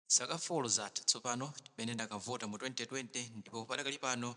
Zaka 4 zatha tsopano chimene ndakavota mu 2020 ndipo padakali pano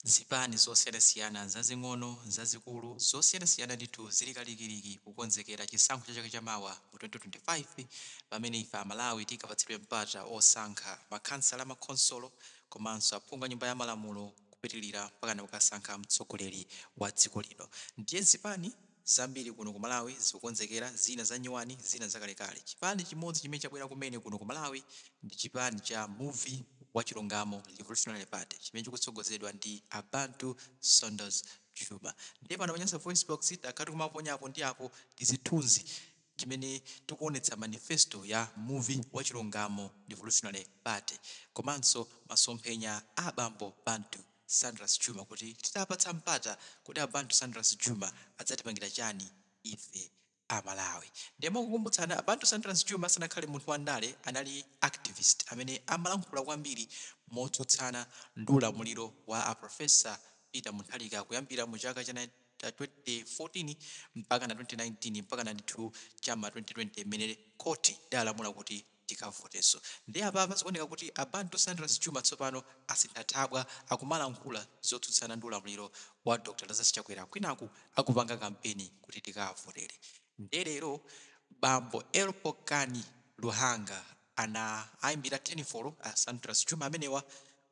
zipani zosiyanasiyana zazing'ono, zazikulu, zosiyanasiyana ndithu zili kalikiliki kukonzekera chisankho cha chaka cha mawa mu 2025 pamene ife Amalawi tikapatsidwe mpata osankha makhansala, makhonsolo komanso aphungu a Nyumba ya Malamulo kupitilira mpakana kukasankha mtsogoleri wa dziko lino. Ndiye zipani. Zambiri kuno ku Malawi zikukonzekera, zina za nyuwani, zina za kalekale. Chipani chimodzi chimene chabwera kumene kuno ku Malawi ndi chipani cha Muvi wa Chilungamo Revolutionary Party chimene chikutsogozedwa ndi a Bantu Saunders Juma. Ndiye pano pa Nyasa VoiceBox, takhala tikumaponya apo ndi apo tizithunzi timene tikuonetsa manifesto ya Muvi wa Chilungamo Revolutionary Party komanso masomphenya a abambo Bantu. Saunders Juma kuti titapatsa mpata kuti a Bantu Saunders Juma adzatipangira chani ife a Malawi ndiye mongokumbutsana a Bantu Saunders Juma asanakhale munthu wa ndale anali activist amene amalankhula kwambiri motsutsana ndi ulamuliro wa a Professor Peter Mutharika kuyambira mu chaka cha 2014 mpakana 2019 mpakana ndithu cha mma 2020 mmene court idalamula kuti tikavoteso nde apapa zikuoneka kuti a Bantu Saunders Juma tsopano asintha thabwa akumalankhula zotsutsana ndi ulamuliro wa Dr Lazarus Chakwera kwinaku akupanga kampeni kuti tikawavotere nde lero bambo L Pokani Luhanga anaimbira thenifolo a Saunders Juma amenewa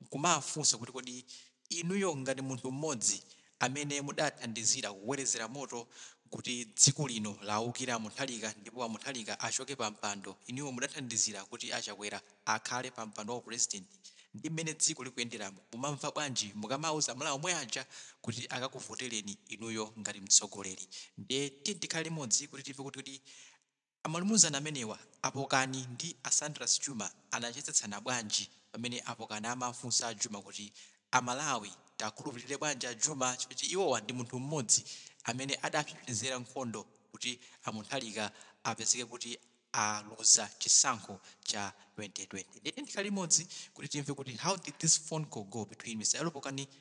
nkumawafunsa kuti kodi inuyo ngati munthu mmodzi amene mudathandizira kukolezera moto kuti dziko lino lawukira a Mutharika ndipo a Mutharika achoke pa mpando inuyo mudathandizira kuti a Chakwera akhale pa mpando wa u president ndi mmene dziko likuyenderamu mumamva bwanji mukamauza amalawi omwe aja kuti akakuvoteleni inuyo ngati mtsogoleri ndiye tiyeni tikhale limodzi kuti timve kuti kodi a Amalumuzana amenewa a Pokani ndi a Saunders Juma anachezetsana bwanji pamene a Pokani amafunsa a Juma kuti a Malawi tiwakhulupilire bwanji a Juma chifukwa choti iwowa ndi munthu mmodzi amene adapsepsezera nkhondo kuti a Mutharika apezeke kuti aluza chisankho cha 2020 ndiye tiye tikhale limodzi kuti timve kuti how did this phone call go between Mr L Pokani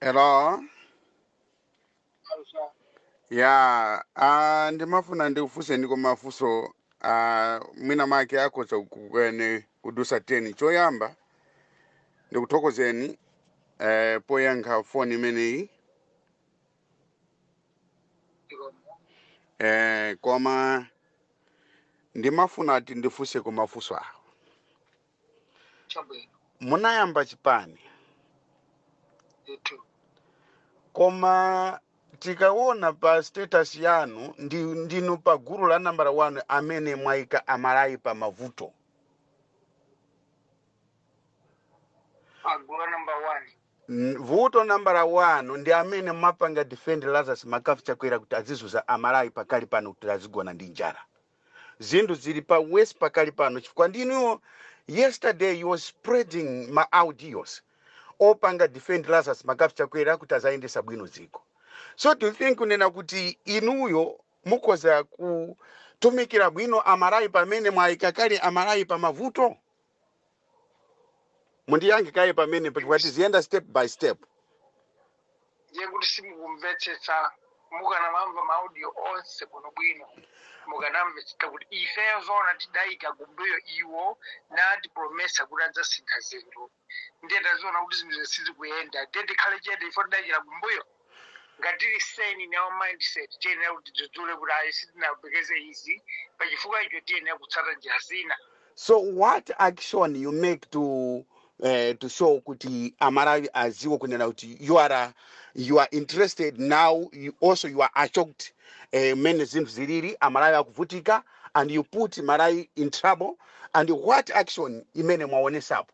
Hello. Yeah, uh, ndimafuna ndikufunseniko mafunso uh, mwina make akhoza kukwana kudusa 10 choyamba ndikuthokozeni eh, poyankha foni imeneyi eh, koma ndimafuna ati ndifunse kumafunso awo chabwino munayamba chipani ndithu koma tikaona pa status yanu ndi, ndinu pa gulu la nambala 1 amene mwaika aMalawi pa mavuto gulu namba one N, vuto nambala 1 ndi amene mumapanga defend Lazarus McCarthy Chakwera kuti adzizunza a Malawi pakali pano kuti azigona ndi njala. Zinthu zili pa worse pakali pano chifukwa ndi inuyo yesterday you was spreading ma audios opanga defend Lazarus McCarthy Chakwera kuti azayendesa bwino dziko. So do you think kunena kuti inuyo mukhoza kutumikira bwino a Malawi pamene mwayika kale a Malawi pa mavuto? mundiyankhe kaye pamenepo chifukwa tiziyenda step by step ndiye kuti simukumvetsetsa mukanamamva maaudio onse bwinobwino mukanamvetsetsa kuti ifeyo zoona tidayika kumbuyo iwo natipromisa kuti adzasintha zinthu ndiye taziona kuti zinthu sizikuyenda ndiye tikhale chete ife tidayikira kumbuyo ngati tili sane in our mindset tiyenera kuti tidzudzule kuti ayi sitinayembekeze izi pa chifukwa icho tiyenera kutsata njira zina so what action you make to uh, to show kuti amalawi aziwo kunena kuti you are a, you are interested now you also you are shocked eh, mmene zinthu zilili amalawi akuvutika and you put amalawi in trouble and what action imene mwaonesapo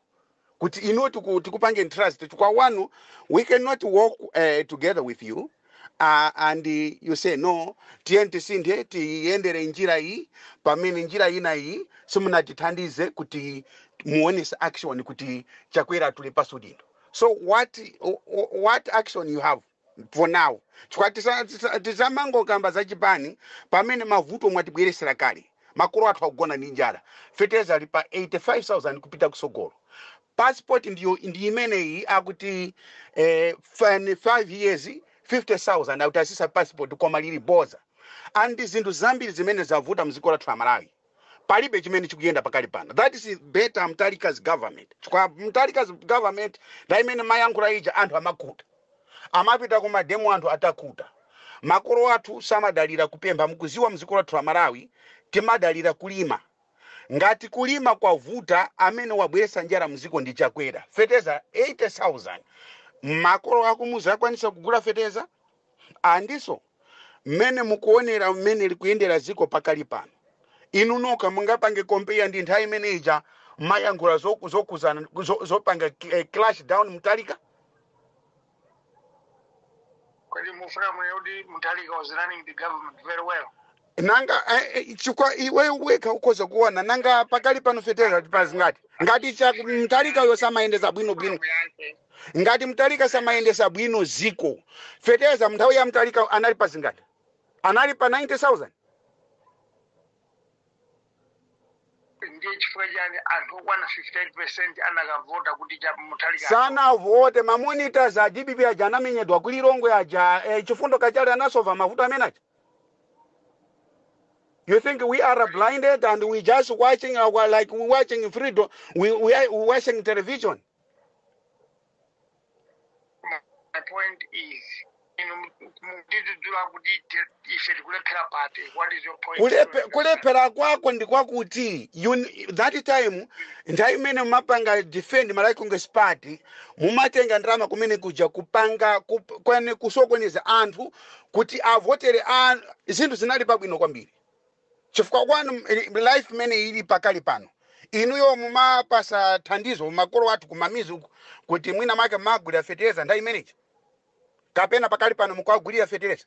kuti inuyo tiku, tikupangeni trust chifukwa wanu we cannot work uh, together with you uh, and you say no tiyeni tisinthe tiyendere njira iyi pamene njira ina iyi simunatithandize kuti muonese action kuti chakwera atule pansi udindo so what, what action you have for now chifukwa tisa- tisa- tisamangokamba za chipani pamene mavuto mwatibweresera kale makolo athu akugona ndi njala feteleza ali pa 85000 kupita kusogolo passport ndiyo ndi imeneyi akuti eh, fan- five years 50000 akuti atsitsa passport koma lili boza and zinthu zambiri zimene zavuta mdziko lathu la malawi palibe chimene chikuyenda pakali pano that is better Mutharika's government chifukwa Mutharika's government ndi imene mumayankhula ija anthu amakhuta amapita ku mademo anthu atakhuta makolo athu samadalira kupempha mukuziwa mziko lathu la malawi timadalira kulima ngati kulima kwavuta amene wabweretsa njala mziko ndi chakwera feteza 80000 makolo akumuzi akwanisa kugula feteza Ah, ndiso, mmene mukuwonera mmene likuyendera dziko pakali pano. Inu nokha mungapange compare ndi nthawi imene ija mmayankhula zo- zokhudzana zo- zopanga eh, clash down Mutharika? Kodi mufuna mwene kuti Mutharika was running the government very well? nanga eh, eh, chikwa iwe wekha ukhoza kuona nanga pakali pano feteza ili pa zingati ngati tcha mtalika yo samayendesa bwino bwino Akuyankhe. ngati mtalika samayendesa bwino ziko feteza mnthawi ya mtalika anali pa zingati anali pa 90000 ndiye chifukwa chani anthu okwana 58 percent anakavota kuti tcha Mutharika sanavote ma monitors a dpp aja anamenyedwa kulilongwe aja eh, chifundo kachale anasova mavuto amene aja You think we are blinded and we just watching our like we watching freedom, we we are we watching television. my point is inu mutidzudzule kuti te- ife tikulephera pati what is your point Kulepe, kulephera kwako ndi kwakuti you, that time nthawi imene mumapanga defend Malawi Congress Party mumatenga ndalama kumene kuja kupanga kup, kwene kusokoneza anthu kuti avotere a zinthu zinali pabwino kwambiri chifukwa kwanu m- life imene ili pakali pano inuyo mumapasa thandizo makolo athu kumamidzi uku kuti mwina make mumagulira fetereza nthawi imene ija kapena pakali pano mukuwagulira fetereza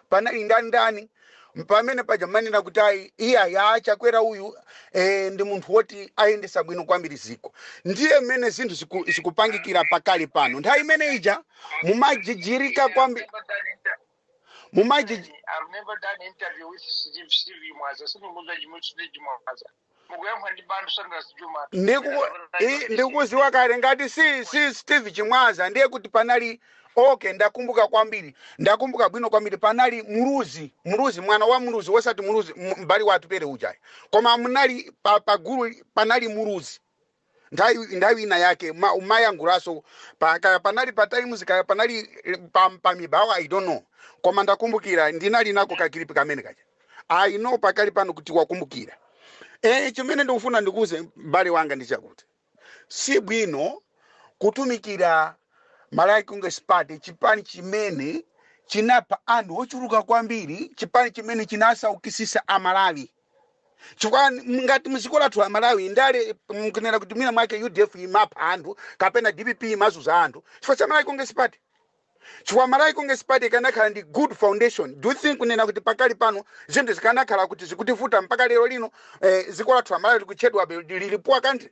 Panali nda ndani pamene paja mmanena kuti ayi iyayi a chakwera uyu e, ndi munthu woti ayendesa bwino kwambiri ziko ndiye mmene zinthu ziku, zikupangikira pakali pano nthawi imene ija mumajijirika kwambi mumajij I've never done interview with Steve Steve Chimwaza. Sindikudziwa chimwe Steve Chimwaza. mukuyankhula ndi bantu saunders juma Ndiku- i- ndikuziwa kale ngati si, si steve chimwaza ndiye kuti panali okay ndakumbuka kwambiri ndakumbuka bwino kwambiri panali muluzi muluzi mwana wa muluzi wosati muluzi m- mbale wa atupere ujayi koma munali pa, pa gulu panali muluzi nthawi nthawi ina yake ma- mumayankhulaso pa- kaya panali pa times kaya panali eh, pa, pa mibawa i don't know koma ndakumbukira ndinali nako kakilipi kamene kaja i know pakali pano kuti wakumbukira eh chimene ndikufuna ndikuze mbale wanga ndi chakuti si bwino kutumikira malawi congress party chipani chimene chinapha anthu ochuluka kwambiri chipani chimene chinasaukisisa amalawi chifukwa n- ngati mziko lathu la malawi ndale mkunena kuti mwina mwake udf imapha anthu kapena dpp imazuza anthu chifukwa cha malawi congress party chifukwa malawi congress party ikanakhala ndi good foundation do you think kunena kuti pakali pano zinthu zikanakhala kuti zikutivuta mpaka lero lino eh, ziko lathu la malawi likutchedwabe lili poor country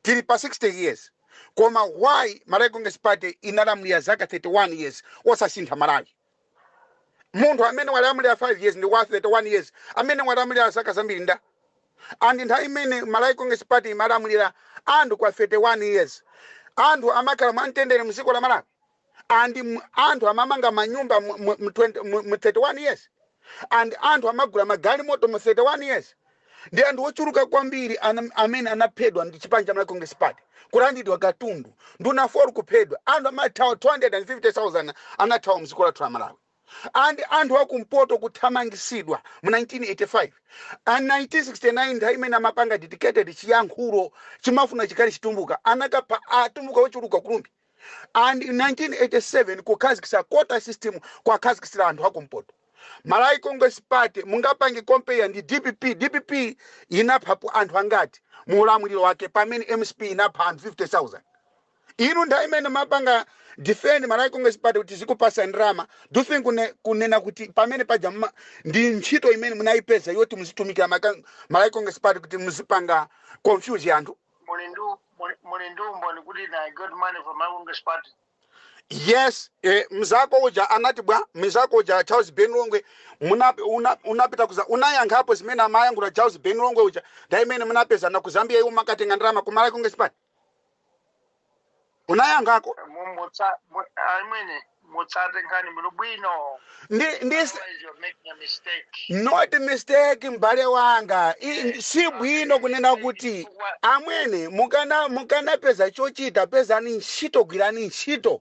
tili pa 60 years koma why malawi congress party inalamulira zaka 31 years osasintha malawi Munthu amene walamulila 5 years ndi wa 31 years amene walamulila zaka zambiri nda? And nthawi imene Malawi Congress Party imalamulila anthu kwa 31 years anthu amakhala mwa mtendere mziko la Malawi? And anthu amamanga manyumba mu 31 years? And anthu amagula magalimoto mu 31 years? ndi anthu ochuluka kwambiri ana- amene anaphedwa ndi chipani cha malawi congress party kulandidwa katundu nduna four kuphedwa anthu amathawa 250000 anathawa mdziko lathu la malawi and anthu akumpoto kuthamangisidwa mu 1985 and 1969 nthawi imene amapanga dedicated chiyankhulo chimafuna chikhale chitumbuka anakapha atumbuka ochuluka ku rumphi and in 1987 kukhazikisa quota system kwakhazikisira anthu akumpoto malawi congress party mungapange compare ndi dpp dpp inaphapo anthu angati mu ulamuliro wake pamene mcp inapha anthu 50000 inu nthawi imene mapanga defend malawi congress party kuti izikupasa ndrama do you think kune, kunena kuti pamene paja mma- ndi ntchito imene munayipeza yoti muzitumikira maka- malawi congress party kuti muzipanga confuse anthu muli ndi muli- muli ndi umboni kuti na I got money from Malawi Congress party. yes eh, mzako uja anati bwa mzako uja charles ben longwe muna- una- unapita kuza unayankhapo zimene amayankhula charles ben longwe uja nthawi imene munapezana ku zambia iwe umakatenga ndalama ku malawi congress party unayankhako Mu- mutsa- mu- ayi amwene mutsate nkhani muno bwino ndi, ndi otherwise you're making a mistake not mistake mbale wanga I- Eh, si bwino kunena amene kuti chifukwa amwene mukana mukanapeza chochita pezani ntchito gwirani ntchito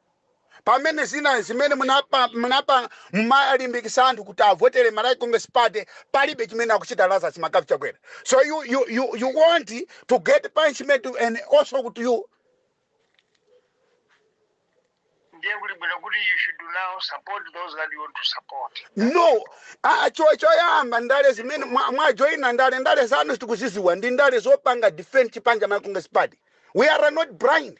pamene zina zimene munapa munapa mumalimbikisa anthu kuti avotere Malawi Congress Party palibe chimene akuchita Lazarus McCarthy Chakwera so you, you, you, you want to get punishment and also kuti you ndiye kuli bwino kuti you should now support those that you want to support no ah, cho- choyamba ndale zimene mwa- mwajoyina ndale ndale zanu tikuziziwa ndi ndale zopanga defend chipani cha Malawi Congress Party we are not blind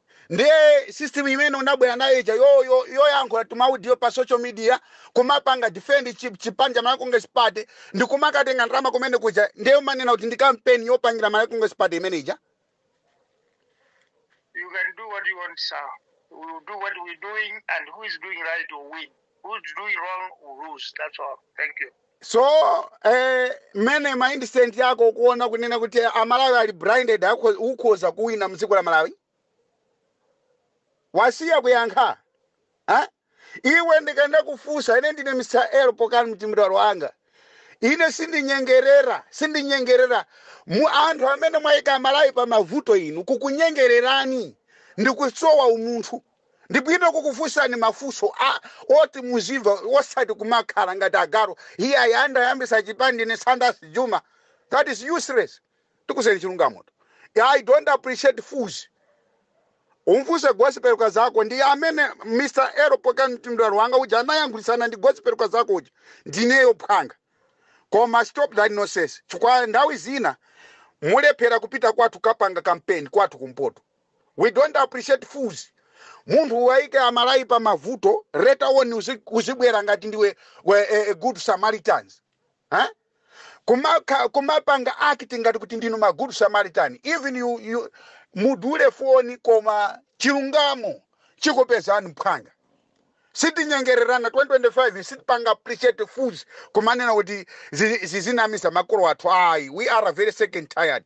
Ndiye system imene unabwera nayo ija yo yo yoyankhula tumaudio pa social media kumapanga defend chi, chipani cha Malawi Congress Party ndikumakatenga ndalama kumene kuja ndiye umanena kuti ndi kampeni yopangira Malawi Congress Party imene ija. You can do what you want, sir. We will do what we're doing, and who is doing right will win. Who's doing wrong will lose. That's all. Thank you. so eh, mene mindset yako ukuona kunena kuti amalawi ali blinded ukhoza kuwina mdziko la malawi wasiya kuyankha ha? iwe ndikada kufusa ine ndine mr l pokani mtimbilalo wanga ine sindinyengerera sindinyengerera anthu amene mwayika amalawi pa mavuto inu kukunyengererani ndikusowa umunthu Ndi bwino kukufunsani mafunso oti muzimva osati kumakhala ngati agaru iyayi ndayambisa chipani ndine Saunders Juma that is useless tikuzeni chilungamo tu I don't appreciate fools Umfunse Gospel Kazako ndi amene Mr. L. Pokani Mtimbilalo wanga uja anayankhulitsana ndi Gospel Kazako uja ndineyo phwanga koma stop that nonsense chifukwa nthawi zina mulephera kupita kwathu kapanga kampeni kwathu kumpoto We don't appreciate fools munthu uwaike amalawi pa mavuto later on uzi, uzibwera ngati ndiwe we, a, a good samaritans eh? Kumaka, kumapanga act ngati kuti ndinu ma good samaritan even you, you mudule foni koma chilungamo chikupezani mphwanga sitinyengererana 2025 sitipanga appreciate fools kumanena kuti zi- zizinamiza makolo athu ayi we are very sick and tired